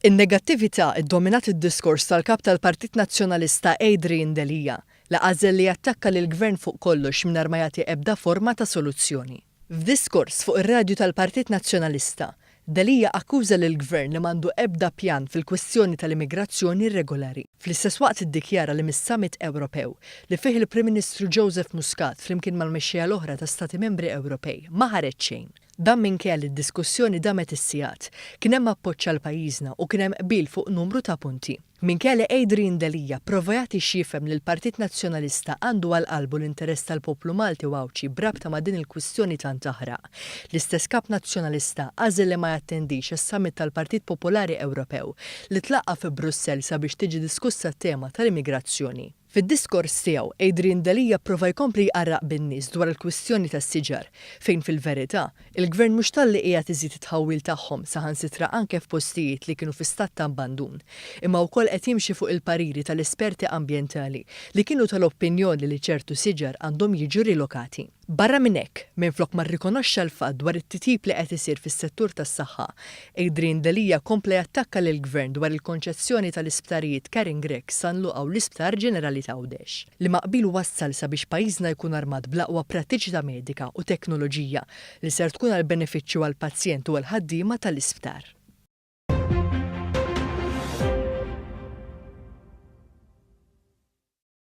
In-negattività ddominat id-diskors tal-Kap tal-Partit Nazzjonalista Adrian Delia, li għażel li jattakka lill-Gvern fuq kollox mingħajr ma jagħti ebda forma ta' soluzzjoni. F'diskors fuq ir-radju tal-Partit Nazzjonalista, Delia akkuża lill-Gvern li m'għandu ebda pjan fil-kwistjoni tal-immigrazzjoni irregolari. Fl-istess waqt iddikjara li mis-Summit Ewropew, li fih il-Prim Ministru Joseph Muscat flimkien mal-mexxejja l-oħra ta' Stati Membri Ewropej, ma ħareġ xejn. Dan minkejja li d-diskussjoni damet is-sigħat. Kien hemm appoġġ għal pajjiżna u kien hemm qbil fuq numru ta' punti. Minkejja li Adrian Delia pprova jagħti x'jifhem li l-Partit Nazzjonalista għandu għal qalbu l-interess tal-poplu Malti u Għawdxi b'rabta ma' din il-kwistjoni tant taħraq, L-istess Kap Nazzjonalista għażel li ma jattendix is-Summit tal-Partit Popolari Ewropew li tlaqqa' fi Brussell sabiex tiġi diskussa t-tema tal-immigrazzjoni. Fid-diskors tiegħu, Adrian Delia pprova jkompli jqarraq bin-nies dwar il-kwistjoni tas-siġar, fejn fil-verità, il-Gvern mhux talli qiegħed iżid it-tħawwil tagħhom saħansitra anke f'postijiet li kienu fi stat ta' abbandun, imma wkoll qed jimxi fuq il-pariri tal-esperti ambjentali li kienu tal-opinjoni li ċertu siġar għandhom jiġu rilokati. Barra minn hekk, minflok ma rrikonoxxa l-fatt dwar it-titjib li qed isir fis-settur tas-saħħa, Adrian Delia kompla jattakka lill-Gvern dwar il-konċessjoni tal-isptarijiet Karen Grech, San Luqa u l-Isptar Ġenerali t'Għawdex. Liema qbil wassal sabiex pajjiżna jkun armat bl-aqwa prattiċità medika u teknoloġija li ser tkun għal benefiċċju għall-pazjent u għall-ħaddiema tal-isptar.